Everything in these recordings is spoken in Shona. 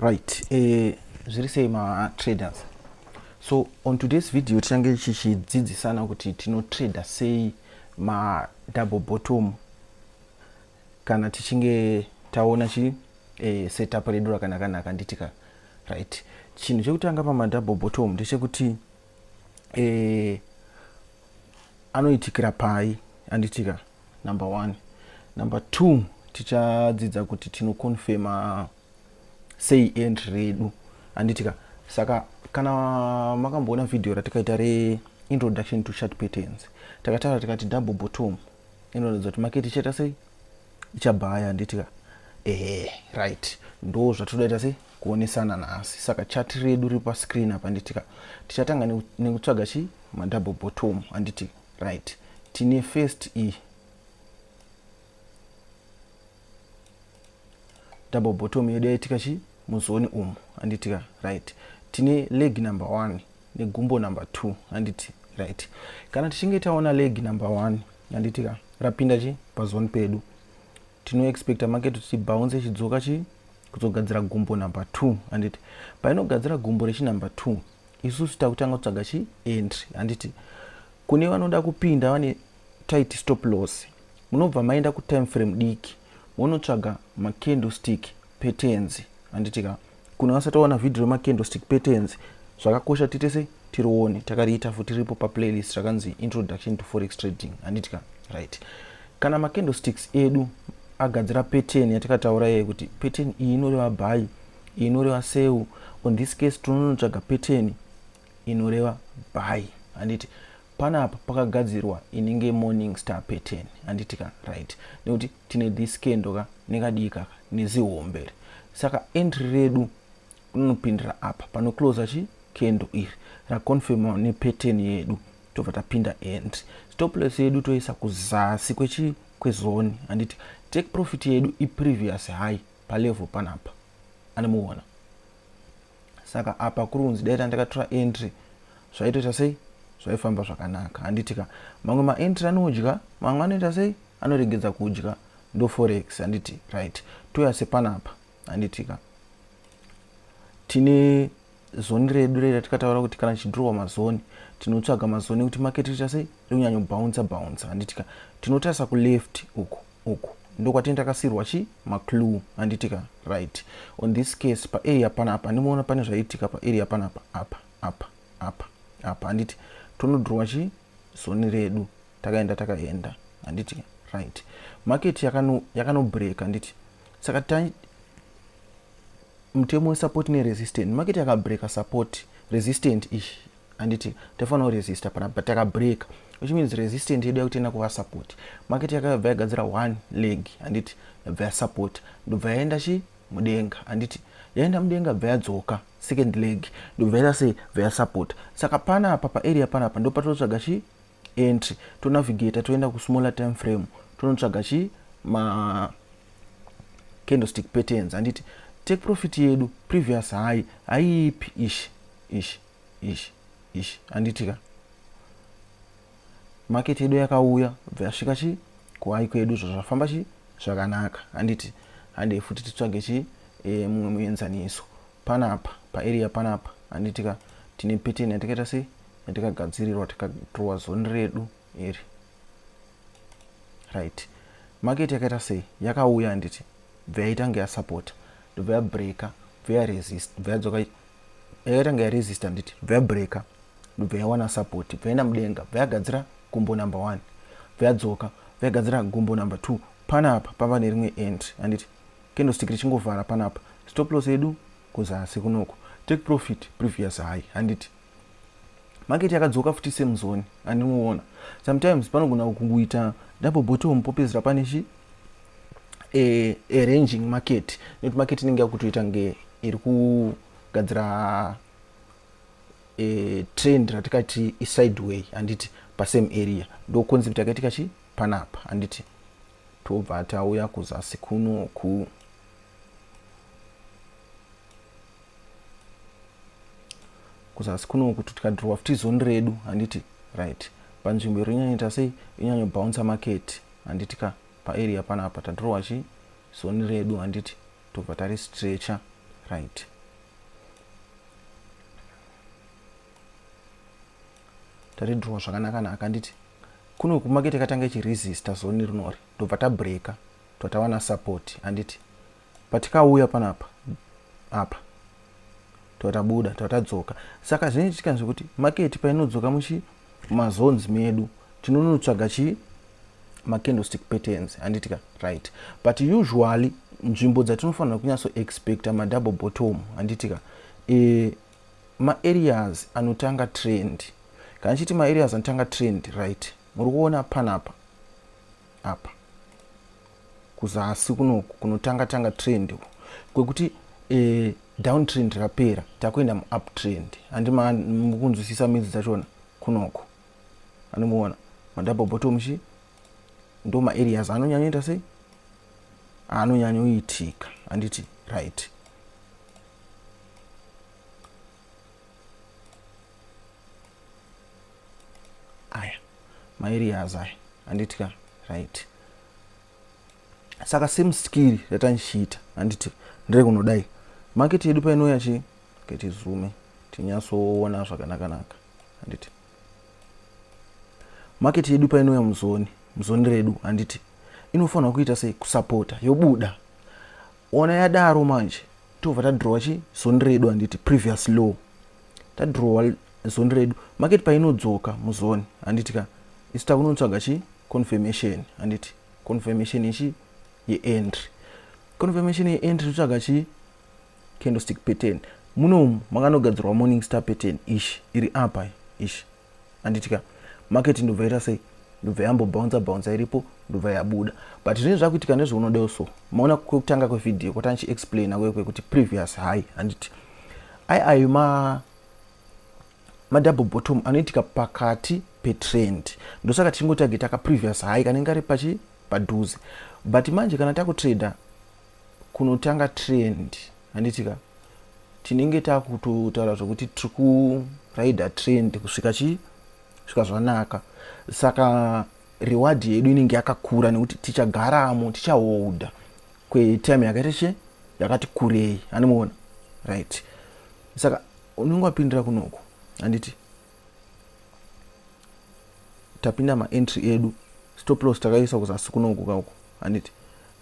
right eh, zviri sei matraders so on today's video tichange tichidzidzisana kuti tinotrader sei madouble bottom kana tichinge taona chi eh, setup redu rakanaka naka nditika right chinhu chekutanga pamadouble bottom ndechekuti eh, anoitikira pai anditika number one number two tichadzidza kuti tinoconfema sei entry redu handitika saka kana makamboona vhidhiyo ratikaita reintroduction to chart patterns takataura tikati double bottom inoratidza kuti maketi ichaita sei ichabhaya handitika ehe right ndo zvatodaita sei kuonesana nhasi saka chati redu riri pascreen apa nditika tichatanga nekutsvaga chii madouble bottom handiti Right. Tine first E. Double bottom yedu yaitika chi muzoni umu anditika right. Tine leg number 1 negumbo number 2 anditi right. Kana tichinge taona leg number 1 anditika rapinda chi pazoni pedu tino expecta market kuti bounce ichidzoka chi kuzogadzira gumbo number 2 handiti painogadzira gumbo rechi number 2 isusu takutanga kutsvaga chi entry handiti kune vanoda kupinda vane tight stop loss munobva maenda kutime frame diki monotsvaga macandlestick petenzi handitika Kune vasati vaona vhidhio remacandlestick patterns, zvakakosha titese tirione. Takariita futi riripo paplaylist rakanzi Introduction to Forex Trading, handiti ka? Right. Kana macandlesticks edu agadzira pattern yatakataura iye kuti pattern iyi inoreva buy, iyi inoreva sell. On this case tinonotsvaga pattern inoreva buy, handiti? Panapa pakagadzirwa inenge morning star pattern, handiti ka? Right. Nekuti tine dhiskendo ka nekadii kaka nezihombe iri saka entry redu unopindira apa pano closer chi kendo iri raconfirma nepattern yedu tobva tapinda entry stoples yedu toisa kuzasi kwechi kwezoni handiti take profit yedu iprevious high palevel panapa anomuona saka apa kuri kunzi dai tandakatora entry zvaitoita sei zvaifamba zvakanaka handiti ka mamwe maentry anodya mamwe anoita sei anoregedza kudya ndoforex handiti right touya sepanapa handiti ka tine zoni redu rei ratikataura kuti kana tichidhirowa mazoni tinotsvaga mazoni ekuti maketi riita sei rikunyanyobhaunsa bhaunsa handitika tinotarisa kuleft uku uku ndokwatini takasiirwa chi maclue handitika right on this case paarea panapa ndimoona pane zvaitika paarea panapa apa apa apa apa handiti tonodhurwa chi zoni redu takaenda takaenda handiti right market yakanobreaka yaka handiti saka ta mutemo wesupport neresistant market yakabreaka support resistant ishi handiti taifanira kuresista pana but takabreaka which means resistant yedu yakuti ina kuvasapoti maketi yakayabva yagadzira one leg handiti yabva yasapoti ndobva yaenda chi mudenga handiti yaenda mudenga bva yadzoka second leg ndobva yaita sei bva yasapota saka pana apa paarea panapa ndo patinotsvaga chi entry tonavigata toenda kusmaller time frame tonotsvaga chi ma candlestick patterns handiti take profit yedu previous high haiipi ishi ishi ish ish anditi ka market yedu yakauya bva yasvika chi kuhai kwedu zvazvafamba chi zvakanaka anditi handei futi titsvage chi e, mumwe muenzaniso panapa paarea panapa anditi ka tine pattern yatikaita sei yatikagadzirirwa tikatrowa zoni redu iri right market yakaita sei yakauya handiti ndobva yaitanga yasapota ndobva yabreaka ndobva yaresist ndobva yadzoka yakaitanga yaresista nditi ndobva yabreaka ndobva yawana support ndobva yaenda mudenga ndobva yagadzira gumbo number one ndobva yadzoka ndobva yagadzira gumbo number two panapa pava nerimwe end handiti candlestick richingovhara panapa stop loss yedu kuzasi kunoko take profit previous high handiti market yakadzoka futi same zone andinoona sometimes panogona kungoita double bottom popedzera pane chi e, arranging market nekuti market inenge yakutoita nge iri kugadzira e, trend ratikati isideway handiti pasame area ndo concept yakaitika chi panapa handiti tobva tauya kuzasi kunoku kuzasi kuno kuti tikadhirowa futi zondi redu handiti right panzvimbo iri inyanyoita sei inyanyobhounsa maketi handiti ka paarea panapa tadhirowa chii zoni redu handiti tobva tari stretcher right tari draw zvakanaka naka handiti kuno kumakete katanga ichiresista zoni rinori tobva tabreaker tobva tawana support handiti patikauya panapa apa tatabuda tatadzoka saka zvinenge tikanzwa kuti maketi painodzoka muchi mazones medu tinonotsvaga chii macandlestick patterns handitika right but usually nzvimbo dzatinofanira kunyatso expecta madouble bottom handitika e, eh, maareas anotanga trend kana chiti maareas anotanga trend right muri kuona panapa apa kuzasi kunoku kunotanga tanga trend uku kwekuti e, down trend rapera takuenda muup trend handi mukunzwisisa midzi dzachona kunoku andimuona madouble bottom chi ndo maareas anonyanyoita sei anonyanyoitika handiti right aya maerias aya handiti ka right saka same skiri ratandichiita handiti ndire kunodai market yedu painouya chi ketizume tinyatsoona zvakanakanaka handiti market yedu painouya muzoni muzoni redu handiti inofanirwa kuita sei kusapota yobuda Ona yadaro manje tobva tadrowa chi zoni redu handiti previous law tadrowa zoni redu market painodzoka muzoni handiti ka isu takunotsvaga chi confirmation handiti confirmation yechi yeentry confirmation yeentry totsvaga chi candlestick pattern munomu makanogadzirwa morning star pattern ishi iri apa ishi anditi ka market ndobva ita sei ndobva yambo bouncer bouncer iripo ndobva yabuda but zvinenge zvakuitika nezveunodewo so maona kwekutanga kwevideo kwatanga chiexplaina kuye kwekuti previous high anditi ai ayo ma madouble bottom anoitika pakati petrend ndosaka tichingotargeta kaprevious high kanenge kari pachi padhuze but manje kana takutrader kunotanga trend handiti ka tinenge takutotaura zvekuti tiri kurider trend kusvika chii svika zvanaka saka reward yedu inenge yakakura nekuti tichagaramo tichaholda kwetime yakaita che yakati kurei animoona right saka unenge wapindira kunoko handiti tapinda maentry edu stop loss takaisa kuzasi kunonguka uko handiti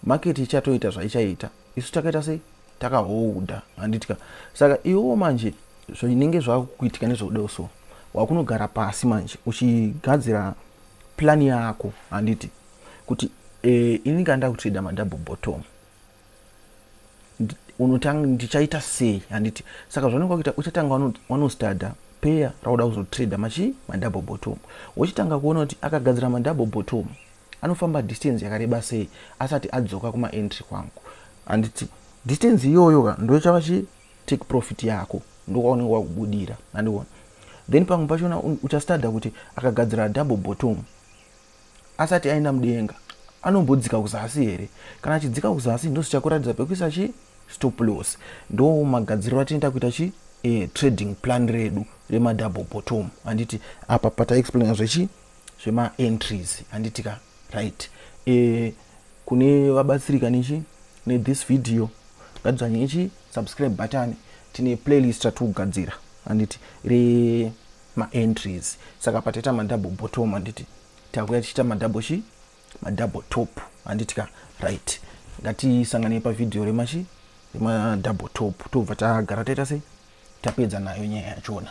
market ichatoita zvaichaita isu takaita sei takahoudha handitika saka iwewo manje zvinenge zvakuitika nezvauda so wakunogara pasi manje uchigadzira plani yako handiti kuti e, ini kanda kutreda madouble bottom unotanga ndichaita sei handiti saka zvaunenge wakuita uchatanga wanostada peya rauda kuzotrader machii madouble bottom wochitanga kuona kuti akagadzira madouble bottom anofamba distance yakareba sei asati adzoka kumaentry kwangu handiti distance iyoyo ka ndochava chi take profit yako ndokwaunenge wakubudira handiona then pamwe pachona uchastada kuti akagadzira double bottom asati aenda mudenga anombodzika kuzasi here kana achidzika kuzasi ndosichakuratidza pekuisa chi stop loss ndo magadziriro atinoita kuita chi e, trading plan redu remadouble bottom handiti apa pataexplaina zvechi zvemaentries handiti ka right e, kune vabatsirika nechi nethis video ngatidzvanyei chi subscribe button tine playlist ratikugadzira handiti re maentries saka pataita madouble bottom handiti takuya tichiita madouble chi madouble top handiti ka right ngatisanganei pavhidhiyo remachi remadouble top tobva tagara taita sei tapedza nayo nyaya yachona